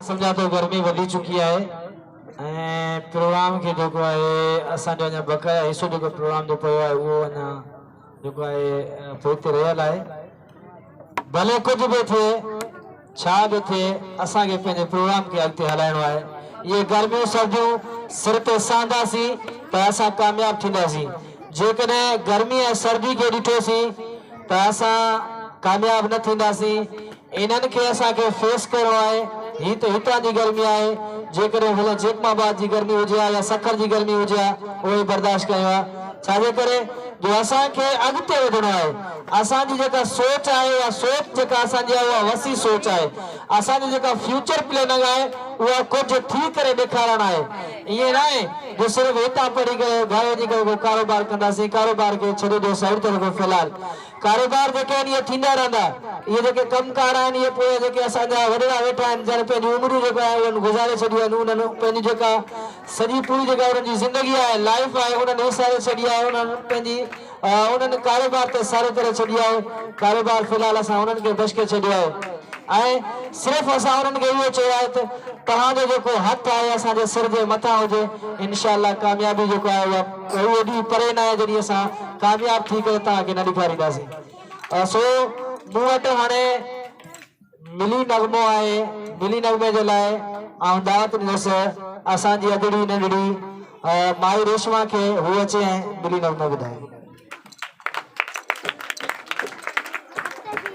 سمجهان ٿو گرمي وڌي چڪي آهي ۽ پروگرام کي جيڪو آهي اسان جو اڃا بقايا حصو جيڪو پروگرام جو پيو آهي اهو اڃا جيڪو آهي پوئتي رهيل آهي ڀلي ڪجهه به ٿئي ڇا به ٿئي اسان کي پنهنجي پروگرام کي اڳتي هلائڻو آهي اهي گرميون سرديون سر تي سهنداسين ته اسان ڪامياب ٿينداسين جيڪڏهن گرمي ۽ سردي کي ڏٺوسين ته اسان ڪامياب نه ٿينداسين انهن کي اسان کي فيس ڪرڻو آهي، هي ته هتان جي گرمي آهي، جيڪڏهن ڀلي جيڪب آباد جي گرمي هجي ها يا سکر جي گرمي هجي ها اهي برداشت ڪيون ها، ڇا جي ڪري جو اسان کي اڳتي وڌڻو آهي، اسان جي جيڪا سوچ آهي يا سوچ جيڪا اسان جي آهي اها وسيع سوچ آهي، اسان جي جيڪا فيوچر پليننگ آهي اها ڪجهه ٿي ڪري ڏيکارڻ آهي، ائين ناهي جو صرف هتان پڙهي ڪري گهر وڃي ڪري ڪو ڪاروبار ڪنداسين، ڪاروبار کي ڇڏي ڏيو سائيڊ ته رڳو في الحال ڪاروبار جيڪي آهن اهي ٿيندا رهندا. اهي جيڪي ڪم ڪار آهن اهي پويان جيڪي اسان جا وڏيرا ويٺا آهن جن پنهنجون عمرون جيڪا آهن انهن گذاري ڇڏيون آهن انهن پنهنجي جيڪا سڄي پوري جيڪا انهن جي زندگي آهي لائيف آهي انهن وساري ڇڏي آهي انهن پنهنجي انهن ڪاروبار تي ساري ڪري ڇڏي آهي ڪاروبار في الحال اسان انهن کي بشڪي ڇڏيو آهي ۽ صرف اسان انهن کي اهو چيو آهي ته توهان جو جيڪو هٿ آهي اسان جي سر جي مٿان هجي انشاء الله ڪاميابي جيڪو آهي اها اهو ڏينهن پري ناهي جڏهن اسان ڪامياب ٿي ڪري توهان کي نه ڏيکارينداسين سو مون وٽ هاڻي ملي نغمو آهي ملي نغمي جي لاء آئون دعوت ڏنس اسان جي اڌڙي ننڍڙي مائي ريشما کي هو اچي ۽ ملي نغمو ٻڌائي